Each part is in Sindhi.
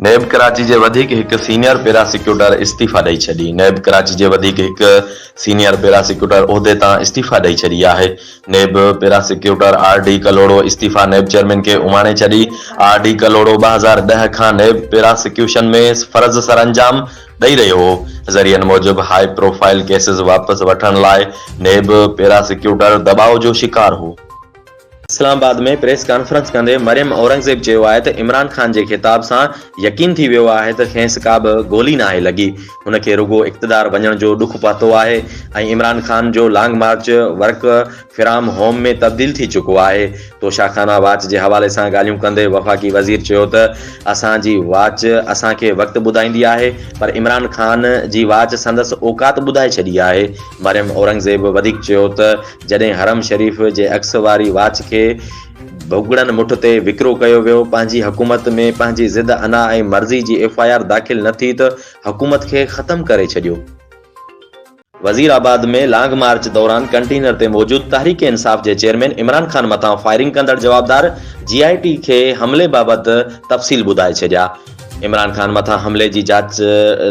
نيب ڪراچي جي وڌيڪ هڪ سينيئر پيراسيڪيوٽر استعيفيٰ ڏئي ڇڏي نيب ڪراچي جي وڌيڪ هڪ سينيئر پيراسيڪيوٽر عهدي تان استعيفيٰ ڏئي ڇڏي آهي NAB prosecutor R D Kalhoro استعيفيٰ نيب چيئرمين کي اماڻي ڇڏي آر ڊي ڪلهوڙو ٻه هزار ڏهه کان نيب پيراسيڪيوشن ۾ فرض سرانجام ڏئي رهيو هو ذريعن موجب هاء پروفائيل ڪيسز واپس وٺڻ لاء نيب پيراسيڪيوٽر دٻاء جو شڪار هو. اسلام آباد ۾ پريس ڪانفرنس ڪندي مريم اورنگزيب چيو آهي ته عمران خان جي خطاب سان يقين ٿي ويو آهي ته کيس ڪا به گولي ناهي لڳي، هن کي رڳو اقتدار وڃڻ جو ڏک پهتو آهي ۽ عمران خان جو long march work from home ۾ تبديل ٿي چڪو آهي. توشاخانا واچ جي حوالي سان ڳالهيون ڪندي وفاقي وزير چيو ته اسان جي واچ اسان کي وقت ٻڌائيندي آهي پر عمران خان جي واچ سندس اوقات ٻڌائي ڇڏي آهي. مريم اورنگزيب وڌيڪ چيو ته. جڏهن حرم شريف جي عڪس واري واچ کي ڀڳڙن مٺ تي وڪرو ڪيو ويو، پنهنجي حڪومت ۾ پنهنجي ضد انا ۽ مرضي جي ايف آء آر داخل نه ٿي ته حڪومت کي ختم ڪري ڇڏيو. وزير آباد ۾ لانگ مارچ دوران ڪنٽينر تي موجود تحريڪ انصاف جي چيئرمين عمران خان مٿان فائرنگ ڪندڙ جوابدار جي آء ٽي کي حملي بابت تفصيل ٻڌائي ڇڏيا. عمران خان مٿان حملي جي جاچ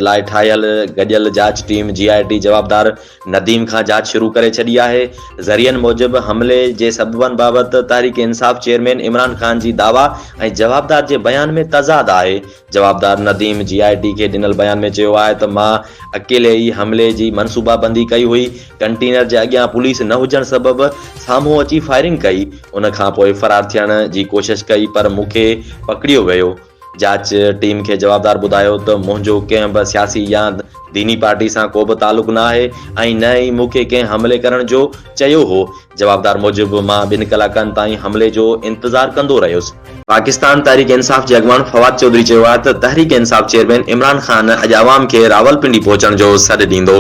لاء ٺاهيل گڏيل جاچ ٽيم جي آء ٽي جوابدار نديم کان جاچ شروع ڪري ڇڏي آهي، ذريعن موجب حملي جي سببن بابت تحريڪ انصاف چيئرمين عمران خان جي دعويٰ ۽ جوابدار جي بيان ۾ تضاد آهي، جوابدار نديم جي آء ٽي کي ڏنل بيان ۾ چيو آهي ته مان اڪيلي ئي حملي جي منصوبابندي ڪئي هئي، ڪنٽينر جي اڳيان پوليس نه هجڻ سبب سامهون اچي فائرنگ ڪئي، ان کانپوء فرار ٿيڻ جي ڪوشش ڪئي پر مون کي پڪڙيو ويو. جاچ ٽيم کي جوابدار ٻڌايو ته منهنجو ڪنهن به سياسي يا ديني پارٽي سان ڪو به تعلق نه آهي ۽ نه ئي مون کي ڪنهن حملي ڪرڻ جو چيو هو. جوابدار موجب مان ٻن ڪلاڪن تائين حملي جو انتظار ڪندو رهيس. پاڪستان تحريڪ انصاف جي اڳواڻ فواد چوڌري چيو آهي ته تحريڪ انصاف چيئرمين عمران خان اڄ عوام کي راولپنڊي پهچڻ جو سڏ ڏيندو.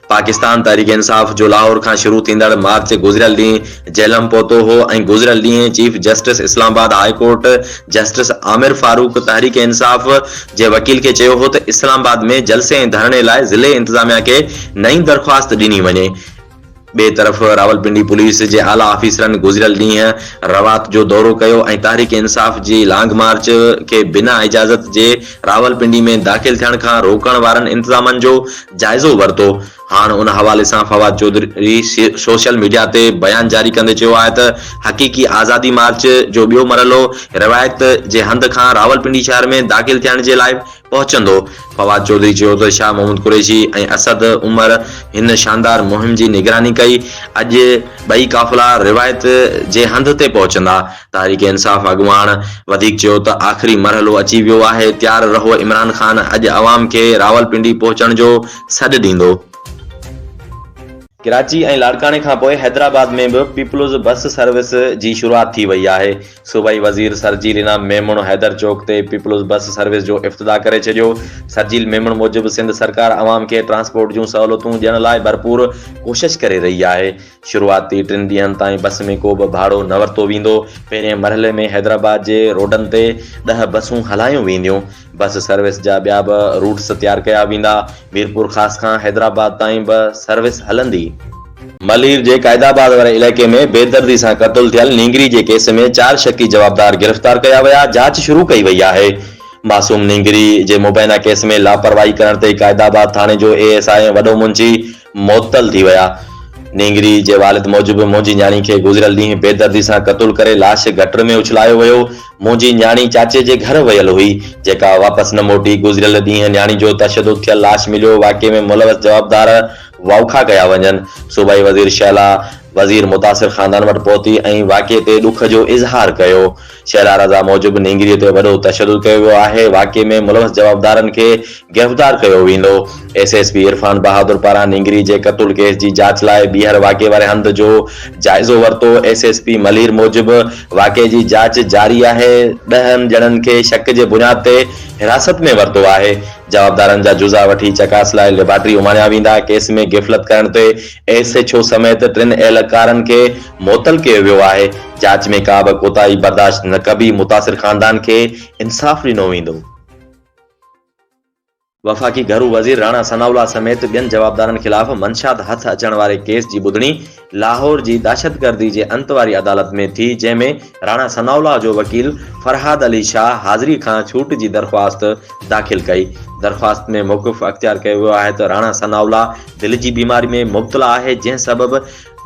پاڪستان تحريڪ انصاف جو لاهور کان شروع ٿيندڙ مارچ گذريل ڏينهن جهلم پهتو هو ۽ گذريل ڏينهن chief justice Islamabad high court justice Amir Farooq Tehreek Insaf جي وڪيل کي چيو هو ته اسلام آباد ۾ جلسي ۽ ڌرڻي لاء ضلعي انتظاميا کي نئين درخواست ڏني وڃي. ٻئي طرف راولپنڊي پوليس جي اعليٰ آفيسرن گذريل ڏينهن روات جو دورو ڪيو ۽ تحريڪ انصاف جي لانگ مارچ کي بنا اجازت جي راولپنڊي ۾ داخل ٿيڻ کان روڪڻ وارن انتظامن جو جائزو ورتو. هاڻ ان حوالي سان فواد چوڌري سوشل ميڊيا تي بيان جاري ڪندي چيو آهي ته حقيقي آزادي مارچ جو ٻيو مرحلو روايت جي هنڌ کان راولپنڊي شهر ۾ داخل ٿيڻ جي لاء پهچندو. فواد چوڌري چيو ته شاهه محمود قريشي ۽ اسد عمر هن شاندار مهم جي نگراني ڪئي، اڄ ٻئي قافلا روايت جي هنڌ تي پهچندا. تحريڪ انصاف اڳواڻ وڌيڪ چيو ته آخري مرحلو اچي ويو آهي، تيار رهو عمران خان اڄ عوام کي راولپنڊي پهچڻ جو سڏ ڏيندو. ڪراچي ۽ لاڙڪاڻي کانپوء حيدرآباد ۾ به پيپلز بس سروس جي شروعات ٿي وئي آهي، صوبائي وزير سرجيل انعام ميمڻ حيدر چوڪ تي پيپلز بس سروس جو افتتاح ڪري ڇڏيو، سرجيل ميمڻ موجب سنڌ سرڪار عوام کي ٽرانسپورٽ جون سهولتون ڏيڻ لاء ڀرپور ڪوشش ڪري رهي آهي، شروعاتي ٽن ڏينهن تائين بس ۾ ڪو به ڀاڙو نه ورتو ويندو، پهرين مرحلي ۾ حيدرآباد جي روڊن تي ڏهه بسون هلايون وينديون، بس سروس جا ٻيا به روٽس تيار ڪيا ويندا، ميرپورخاص کان حيدرآباد تائين به سروس هلندي. ملير جي قائد آباد واري علائقي ۾ بيدردي سان قتل ٿيل نينگري جي ڪيس ۾ چار شڪي جوابدار گرفتار ڪيا ويا، جاچ شروع ڪئي وئي آهي، معصوم نينگري جي مبينا ڪيس ۾ لاپرواهي ڪرڻ تي قائد آباد ٿاڻي جو اي ايس آء ۽ وڏو منشي معطل ٿي ويا. نينگري جي والد موجب منهنجي نياڻي کي گذريل ڏينهن بيدردي سان قتل ڪري لاش گٽر ۾ اڇلايو ويو. منهنجي نياڻي چاچي جي گهر ويل هئي، جيڪا واپس نه موٽي. گذريل ڏينهن نياڻي جو تشدد ٿيل لاش مليو، واقعي ۾ ملوث جوابدار واوکا ڪيا وڃن. صوبائي وزير شهلا وزير متاثر خاندان وٽ پهتي ۽ واقعي تي ڏک جو اظهار ڪيو. شهلا رضا موجب نينگريء تي وڏو تشدد ڪيو ويو آهي، واقعي ۾ ملوث جوابدارن کي گرفتار ڪيو ويندو، S S P Irfan Bahadur پاران نينگري جي قتل ڪيس جي جاچ لاء ٻيهر واقعي واري هنڌ جو جائزو ورتو، ايس ايس پي ملير موجب واقعي جي جاچ جاري آهي، ڏهن ڄڻن کي شڪ جي بنياد تي حراست ۾ ورتو آهي، جوابدارن جا جزا وٺي چڪاس لاء ليبارٽري اماڻيا ويندا، ڪيس ۾ غفلت ڪرڻ تي ايس ايڇ او سميت ٽن اهلڪارن کي معطل ڪيو ويو آهي، جاچ ۾ ڪا به ڪوتاهي برداشت نه ڪبي، متاثر خاندان کي انصاف ڏنو ويندو. وفاقي گهرو وزير راڻا ثناء الله سميت ٻين جوابدارن خلاف منشيات هٿ اچڻ واري ڪيس جي ٻڌڻي لاهور جي دهشتگردي جي انت واري عدالت ۾ ٿي جنهن ۾ راڻا ثناء الله جو وڪيل فرهاد علي شاهه حاضري کان ڇوٽ جي درخواست داخل ڪئي، درخواست ۾ موقف اختيار ڪيو ويو آهي ته راڻا ثناء الله دل جي بيماري ۾ مبتلا آهي جنهن سبب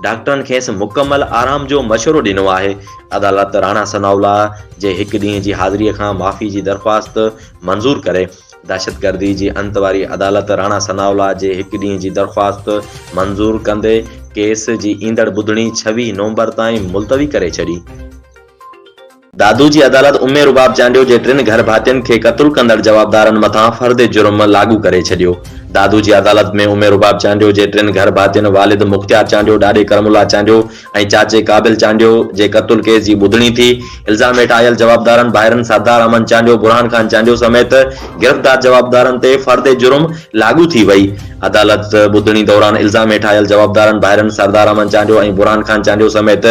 ڊاڪٽرن کيس مڪمل آرام جو مشورو ڏنو آهي، عدالت راڻا ثناء الله جي هڪ ڏينهن جي حاضري کان معافي جي درخواست منظور ڪري. دهشتگردي جي انت واري عدالت راڻا ثناء الله جي هڪ ڏينهن جي درخواست منظور ڪندي ڪيس جي ايندڙ ٻڌڻي ڇويهه نومبر تائين ملتوي ڪري ڇڏي. دادو جي عدالت امي رباب چانڊيو جي ٽن گهر ڀاتين کي قتل ڪندڙ جوابدارن مٿان فرد جرم لاڳو ڪري ڇڏيو. دادو جي عدالت ۾ امي رباب چانڊيو جي ٽن گهر ڀاتين والد مختيار چانڊيو، ڏاڏي ڪرم الله چانڊيو، ۽ چاچي قابل چانڊيو جي قتل ڪيس جي ٻڌڻي ٿي، الزام هيٺ آيل جوابدارن ڀائرن سردار احمد چانڊيو، برهان خان چانڊيو سميت گرفتار جوابدارن تي فرد جرم لاڳو ٿي وئي، عدالت ٻڌڻي دوران الزام هيٺ آيل جوابدارن ڀائرن سردار احمد چانڊيو ۽ برهان خان چانڊيو سميت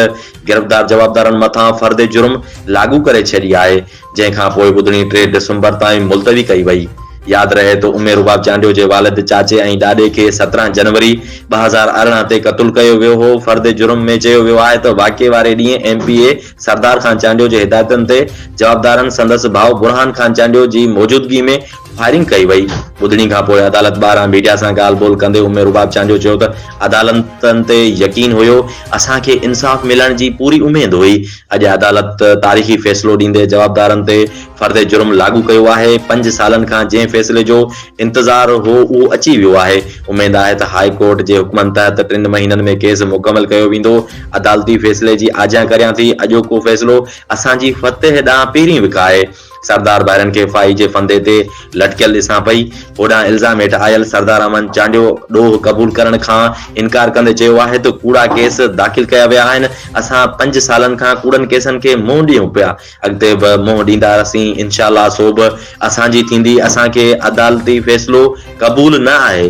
گرفتار جوابدارن مٿان فرد جرم لاڳو ڪري ڇڏي آهي. جنهن کان پوء ٻڌڻي ٽي ڊسمبر تائين ملتوي ڪئي وئي. ياد رهي ته امي رباب چانڊيو جي والد، چاچي ۽ ڏاڏي کي سترهن جنوري ٻه هزار ارڙهن تي قتل ڪيو ويو هو. فرد جرم ۾ چيو ويو آهي ته واقعي واري ڏينهن M P A Sardar Khan Chandio جي هدايتن تي جوابدارن سندس ڀاء برهان خان چانڊيو جي موجودگي ۾ فائرنگ ڪئي وئي. ٻڌڻي کان پوء عدالت ٻاهران ميڊيا سان ڳالهه ٻولهه ڪندي امي رباب چانڊيو چيو ته عدالتن تي يقين هيو، اسان کي انصاف ملڻ جي پوري اميد هئي، اڄ عدالت تاريخي فيصلو ڏيندي جوابدارن تي فرد جرم لاڳو ڪيو آهي، پنج سالن کان جنهن فيصلي جو انتظار هو اهو اچي ويو آهي، اميد آهي ته هاء ڪورٽ جي حڪمن تحت ٽن مهينن ۾ ڪيس مڪمل ڪيو ويندو، عدالتي فيصلي جي آجيان ڪريان ٿي، اڄوڪو فيصلو اسان جي فتح ڏانهن پهرين وکاهي. سردار ڀائرن کي ڦاهي جي ڦندي تي لٽڪيل ڏسان پئي، هوڏانهن الزام هيٺ آيل سردار امن چانڊيو ڏوهه قبول ڪرڻ کان انڪار ڪندي چيو آهي ته ڪوڙا ڪيس داخل ڪيا ويا آهن، اسان پنج سالن کان ڪوڙن ڪيسن کي منهن ڏيون پيا، اڳتي به منهن ڏيندا رهسين، انشاء الله سو به اسان جي ٿيندي، اسان کي عدالتي فيصلو قبول نه آهي.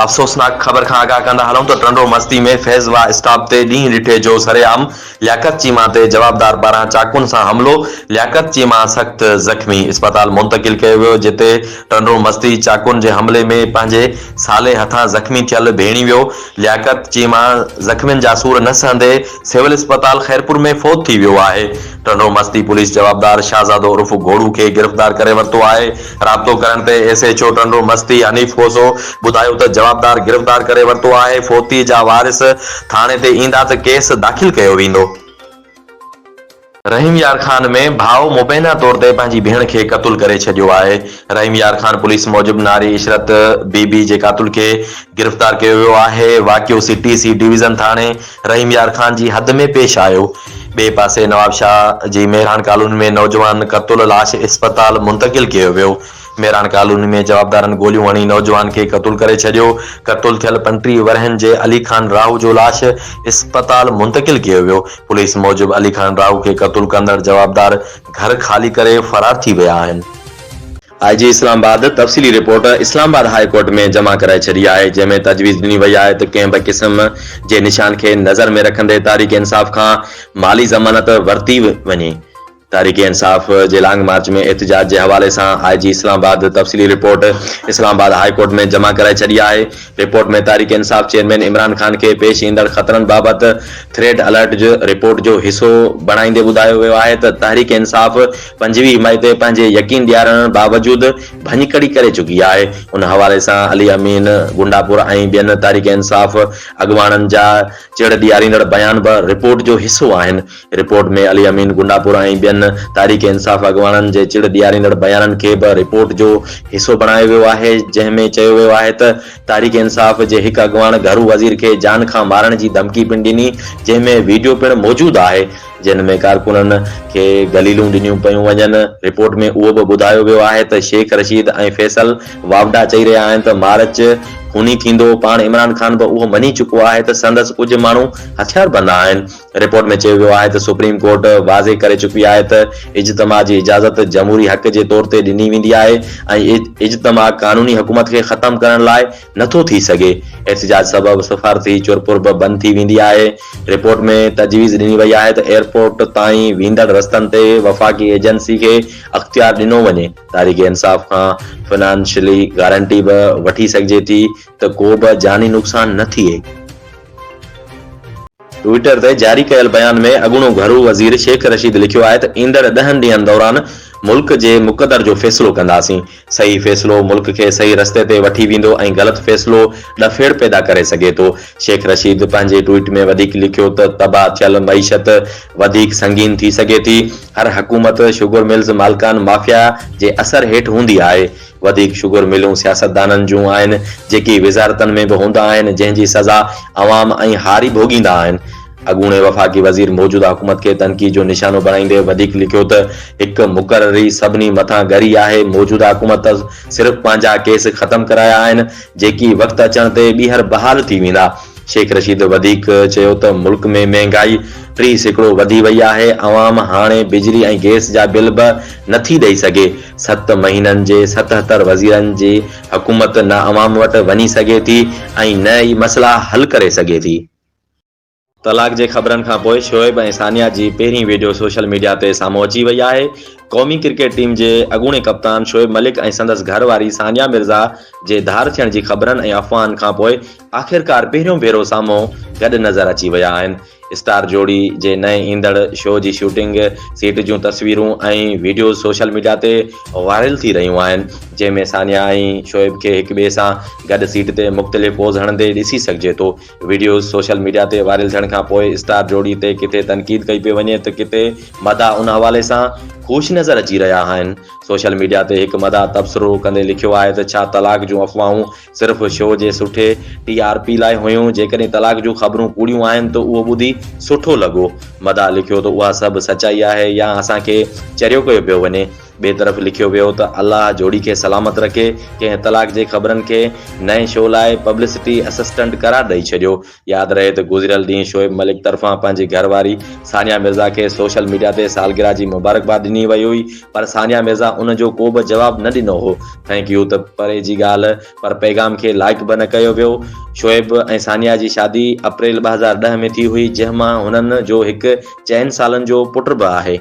افسوسناڪ خبر کان آگاهه ڪندا هلون ته ٽنڊو مستي ۾ فيض واهه اسٽاپ تي ڏينهن ڏٺي جو سرعام لياقت چيما تي جوابدار پاران چاقون سان حملو، لياقت چيما سخت زخمي اسپتال منتقل ڪيو ويو جتي ٽنڊو مستي چاقون جي حملي ۾ پنهنجي سالي هٿان زخمي ٿيل ڀيڻي ويو، لياقت چيما زخمين جا سور نه سهندي سول اسپتال خيرپور ۾ فوت ٿي ويو آهي، ٽنڊو مستي پوليس جوابدار شاهزادو عرف گهوڙو کي گرفتار ڪري ورتو آهي. رابطو ڪرڻ تي S H O Tando Masti Hanif Khoso ٻڌايو ته جوابدار گرفتار ڪري ورتو آهي، فوتي جا وارث ٿاڻي تي ايندا ته ڪيس داخل ڪيو ويندو. رحيم يار خان ۾ ڀاء مبينا طور تي پنهنجي ڀيڻ کي قتل ڪري ڇڏيو آهي، رحيم يار خان پوليس موجب ناري عشرت بي بي جي قاتل کي گرفتار ڪيو ويو آهي، واقعو سي ٽي سي ڊويزن ٿاڻي رحيم يار خان جي حد ۾ پيش آيو، ٻئي پاسي نوابشاهه جي مهراڻ ڪالوني ۾ نوجوان قتل لاش اسپتال منتقل ڪيو ويو، مهراڻ ڪالوني ۾ جوابدارن گوليون هڻي نوجوان کي قتل ڪري ڇڏيو، قتل ٿيل پنٽيهه ورهين جي علي خان راهو جو لاش اسپتال منتقل ڪيو ويو، پوليس موجب علي خان راهو کي قتل ڪندڙ جوابدار گهر خالي ڪري فرار ٿي ويا آهن. آء جي اسلام آباد تفصيلي report Islamabad high court ۾ جمع ڪرائي ڇڏي آهي، جنهن ۾ تجويز ڏني وئي آهي ته ڪنهن به قسم جي نشان کي نظر ۾ رکندي تحريڪ انصاف کان مالي ضمانت ورتي وڃي. تحريڪ انصاف جي لانگ مارچ ۾ احتجاج جي حوالي سان آء جي اسلام آباد تفصيلي report Islamabad high court ۾ جمع ڪرائي ڇڏي آهي، رپورٽ ۾ تحريڪ انصاف چيئرمين عمران خان کي پيش ايندڙ خطرن بابت ٿريڊ الرٽ جي رپورٽ جو حصو بڻائيندي ٻڌايو ويو آهي ته تحريڪ انصاف پنجويهه مئي تي پنهنجي يقين ڏيارڻ باوجود ڀڃڪڙي ڪري چڪي آهي ان حوالي سان علي امين گنڊاپور ۽ ٻين تحريڪ انصاف اڳواڻن جا چڙ ڏياريندڙ بيان به رپورٽ جو حصو آهن. رپورٽ ۾ علي امين گنڊاپور ۽ ٻين تحريڪ انصاف اڳواڻن جي چڙ ڏياريندڙ بيانن کي به رپورٽ جو حصو بڻايو ويو آهي، جنهن ۾ چيو ويو آهي ته تحريڪ انصاف جي هڪ اڳواڻ گهرو وزير کي جان کان مارڻ جي ڌمڪي پڻ ڏني، جنهن ۾ ويڊيو پڻ موجود آهي، جنهن ۾ ڪارڪنن کي گليلون ڏنيون پيون وڃن. رپورٽ ۾ اهو به ٻڌايو ويو آهي ته شيخ رشيد ۽ فيصل واوڊا چئي رهيا آهن ته مارچ خوني ٿيندو، پاڻ عمران خان به اهو مڃي چڪو آهي ته سندس ڪجهه ماڻهو هٿياربند آهن، رپورٽ ۾ چيو ويو آهي ته سپريم ڪورٽ واضح ڪري چڪي آهي ته اجتماع جي اجازت جمهوري حق جي طور تي ڏني ويندي آهي ۽ اجتماع قانوني حڪومت کي ختم ڪرڻ لاء نٿو ٿي سگهي، احتجاج سبب سفارتي چرپر به بند ٿي ويندي آهي، رپورٽ ۾ تجويز ڏني وئي آهي ته ايئرپورٽ تائين ويندڙ رستن تي وفاقي ايجنسي کي اختيار ڏنو وڃي، تحريڪ انصاف کان فنانشلي گارنٽي به وٺي سگهجي ٿي ته ڪو به جاني نقصان نه ٿئي. ٽوئيٽر تي جاري ڪيل بيان ۾ اڳوڻو گهرو وزير شيخ رشيد لکيو آهي ته ايندڙ ڏهن ڏينهن دوران ملڪ جي مقدر جو فيصلو ڪنداسين، صحيح فيصلو ملڪ کي صحيح رستي تي وٺي ويندو ۽ غلط فيصلو ڏڦيڙ پيدا ڪري سگهي ٿو. شيخ رشيد پنهنجي ٽوئيٽ ۾ وڌيڪ لکيو ته تباهه ٿيل معيشت وڌيڪ سنگين ٿي سگهي ٿي، هر حڪومت شگر ملز مالڪان مافيا جي اثر هيٺ هوندي آهي، وڌيڪ شگر ملون سياستدانن جون آهن، جيڪي وزارتن ۾ به هوندا آهن، جنهن جي سزا عوام ۽ هاري ڀوڳيندا آهن. اڳوڻي وفاقي وزير موجوده حڪومت کي تنقيد جو نشانو بڻائيندي وڌيڪ لکيو ته هڪ مقرري سڀني مٿان ڳري آهي، موجوده حڪومت صرف پنهنجا ڪيس ختم ڪرايا آهن، جيڪي وقت اچڻ تي ٻيهر بحال ٿي ويندا. شيخ رشيد وڌيڪ چيو ته ملڪ ۾ مهنگائي ٽي سيڪڙو وڌي وئي آهي، عوام هاڻي بجلي ۽ گئس جا بل به نٿي ڏئي سگهي، ست مهينن جي ستهتر وزيرن جي حڪومت نه عوام وٽ وڃي سگهي ٿي ۽ نه ئي مسئلا حل ڪري سگهي ٿي. طلاق جي خبرن کان پوء شعيب ۽ ثانيه جي پهرين ويڊيو سوشل ميڊيا تي سامهون اچي وئي آهي. قومي ڪرڪيٽ ٽيم جي اڳوڻي ڪپتان شعيب ملڪ ۽ سندس گهر واري ثانيه مرزا جي ڌار ٿيڻ جي خبرن ۽ افواهن کان پوء آخرڪار پهريون ڀيرو سامهون گڏ نظر اچي ويا آهن. اسٽار جوڙي جي نئين ايندڙ شو جي شوٽنگ سيٽ جون تصويرون ۽ وڊيوز سوشل ميڊيا تي وائرل ٿي رهيون آهن جنهن ۾ ثانيه ۽ شعيب کي هڪ ٻئي سان گڏ سيٽ تي مختلف پوز هڻندي ڏسي سگهجي ٿو وڊيوز سوشل ميڊيا تي وائرل ٿيڻ کان پوء اسٽار جوڙي تي ڪٿي تنقيد ڪئي پئي وڃي ته ڪٿي مداح ان حوالي سان خوش نظر اچي رهيا آهن سوشل ميڊيا تي هڪ مداح تبصرو ڪندي لکيو آهي ته ڇا طلاق جون افواهون صرف شو جي سٺي ٽي آر پي لاء هيون جيڪڏهن طلاق جون خبرون ڪوڙيون آهن ته اهو ٻڌي سٺو لڳو مداح لکيو ته اها سڀ سچائي آهي يا اسان کي چريو ڪيو پيو وڃي ٻي طرف لکيو ويو ته الله جوڙي کي سلامت رکي ڪنهن طلاق جي خبرن کي نئين شو لاء پبلسٽي اسسٽنٽ قرار ڏئي ڇڏيو ياد رهي ته گذريل ڏينهن شعيب ملڪ طرفان پنهنجي گهر واري ثانيه مرزا کي سوشل ميڊيا تي سالگرهه جي مبارڪباد ڏني وئي هئي پر ثانيه مرزا ان جو ڪو به جواب نه ڏنو هو ٿينڪ يو ته پري جي ڳالهه پر پيغام کي لائيڪ به نه ڪيو ويو شعيب ۽ ثانيه جي شادي اپريل ٻه هزار ڏهه ۾ ٿي هئي جنهن مان هنن جو هڪ چئن سالن جو پٽ به آهي.